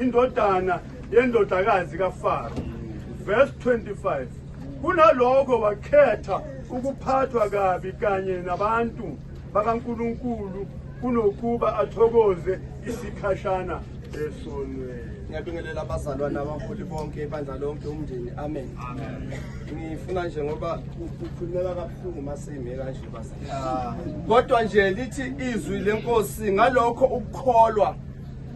indodana yendodakazi kaFaro verse 25 kunalokho wakhetha ukuphathwa kabi kanye nabantu bakaNkuluNkulu kunokuba athokoze isikhashana esonweni ngiyabingelela abazalwane abaholi bonke ibandla lonke umndeni amen ngifuna nje ngoba kukhulumeka kabuhlungu masime kanje basa kodwa nje lithi izwi lenkosi ngalokho ukukholwa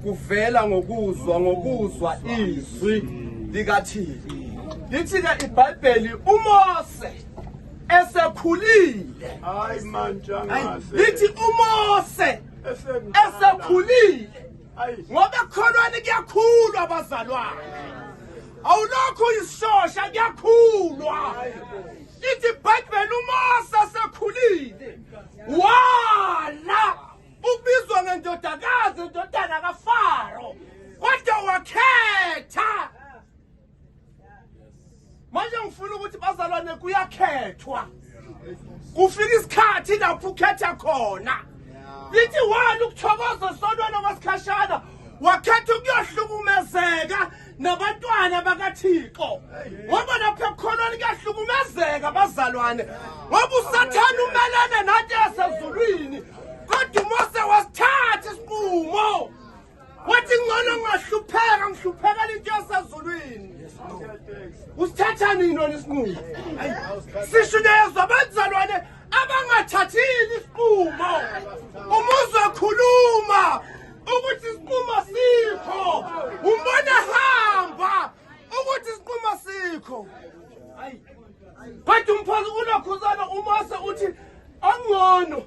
kuvela ngokuzwa ngokuzwa izwi likaThixo lithi ke iBhayibheli uMose esekhulile hayi manjangase lithi uMose esekhulile ngoba kukholwani kuyakhulwa abazalwane awulokhu isishosha kuyakhulwa lithi iBhayibheli uMose esekhulile wala Ubizwa ngendodakazi indodana kaFaro. Kodwa wakhetha. Manje ngifuna ukuthi bazalwane kuyakhethwa. Kufika isikhathi lapho ukhetha khona. Lithi wani ukuthokoza sonwana kwasikhashana wakhetha ukuyohlukumezeka nabantwana bakathixo ngoba lapho ekukholweni kuyahlukumezeka abazalwane ngoba usathane umelene nathi esezulwini kodwa umose wasithatha isinqumo wathi ngcono ngingahlupheka ngihluphekela into yasezulwini usithatha nini ona isinqumo sisho into yezwa abazalwane abangathathile isinqumo umuzi wakhuluma ukuthi isiquma sikho umbona hamba ukuthi isiquma sikho kodwa umfazi unokhuzana umase uthi angcono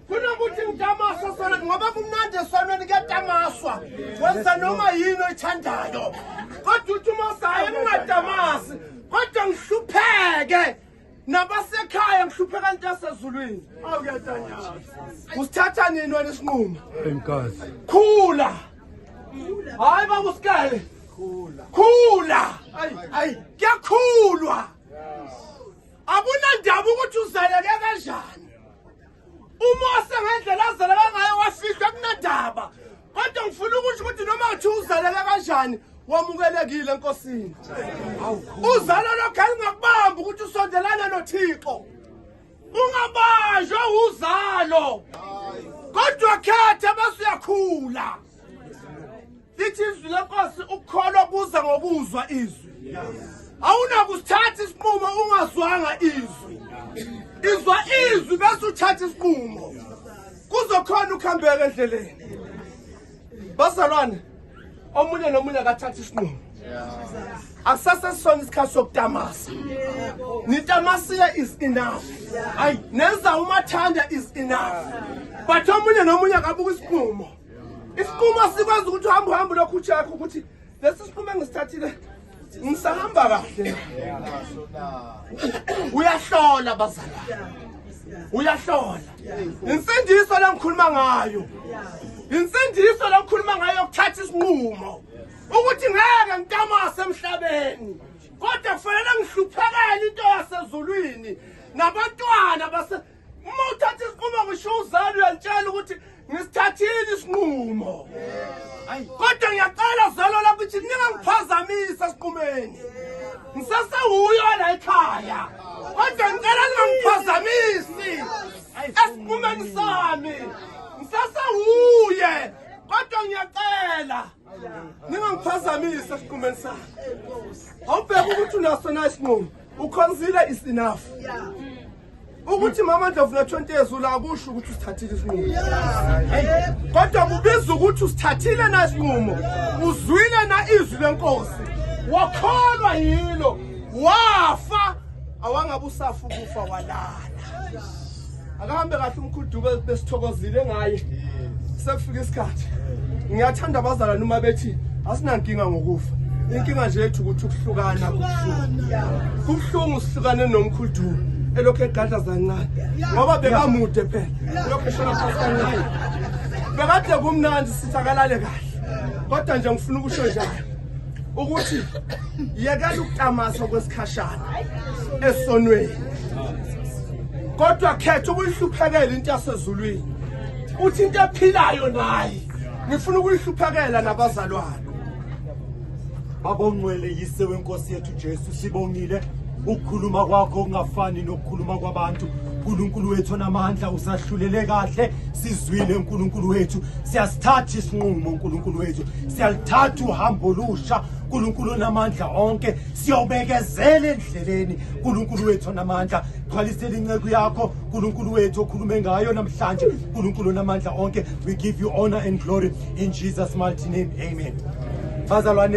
kunokuthi ngitamaswa sona ngoba kumnandi esonweni kuyatamaswa wenza noma yini oyithandayo kodwa uthi umasayo ningatamasi kodwa ngihlupheke nabasekhaya ngihlupheka ntasezulwini awu kuyadanyana usithatha nini wena isinqumo enkazi khula hayi baba usikele khula khula ayi kuyakhulwa akunandaba ukuthi uzaleke kanjani umose ngendlela azaleka ngayo wafihlwa kunandaba kodwa ngifuna ukusho ukuthi noma uthi uzalele kanjani wamukelekile enkosini uzalelo khali ngakubamba ukuthi usondelane nothixo ungabanjwe uzalo kodwa khethe bese uyakhula lithi izwi lenkosi ukukholwa kuza ngokuzwa izwi awunakusithatha isinqumo ungazwanga izwi izwa izwi bese uthatha isinqumo kuzokhona ukuhambeka endleleni bazalwane omunye nomunye akathatha isinqumo asasesona isikhathi sokutamasa nitamasiya is enough ayi nenza umathanda is enough but omunye nomunye akabuka isinqumo isinqumo sikwazi ukuthi uhambe uhambe lokhu uthakho ukuthi lesi siqumo engisithathile ngisahamba kahle uyahlola bazala uyahlola insindiso lengikhuluma ngayo insindiso lengikhuluma ngayo yokuthatha isinqumo ukuthi ngeke ngitamase emhlabeni kodwa kufanele ngihluphekele into yasezulwini nabantwana base uma uthatha isinqumo ngisho uzalo uyalitshela ukuthi ngisithathile isinqumo kodwa ngiyaqala zalo lapho ukuthi ningangiphazamisa esiqumeni ngisasewuyo la ekhaya kodwa ngicela ningangiphazamisi esinqumeni sami ngisasewuye kodwa ngiyacela ningangiphazamisa esiqumeni sakho awubheke ukuthi unaso na isinqumo ukhonzile is enough ukuthi mama ndlovu na-20 years ula akusho ukuthi usithathile isinqumo kodwa kubiza ukuthi usithathile na isinqumo uzwile na izwi lenkosi wakholwa yilo wafa awangabe usafa ukufa walala akahambe kahle umkhudube besithokozile ngaye sekufika isikhathi ngiyathanda abazalwane uma bethi asinankinga ngokufa inkinga nje yethu ukuthi ukuhlukana kubuhlungu kubuhlungu usihlukane nomkhudube elokhu egadla zancane ngoba bekamude phela elokhu eshona phasi kancane bekade kumnandi sithi akalale kahle kodwa nje ngifuna ukusho njalo ukuthi yekela ukutamasa kwesikhashana esonweni kodwa khetha ukuyihluphekela into yasezulwini uthi into ephilayo naye ngifuna ukuyihluphekela nabazalwane babongcwele yise wenkosi yethu Jesu sibongile ukukhuluma kwakho kungafani nokukhuluma kwabantu uNkulunkulu wethu onamandla usahlulele kahle sizwile uNkulunkulu wethu siyasithatha isinqumo uNkulunkulu wethu siyalithatha uhambo olusha uNkulunkulu onamandla onke siyobekezela endleleni uNkulunkulu wethu onamandla gcwalisela inceku yakho uNkulunkulu wethu okhulume ngayo namhlanje uNkulunkulu onamandla onke we give you honor and glory in Jesus mighty name amen bazalwane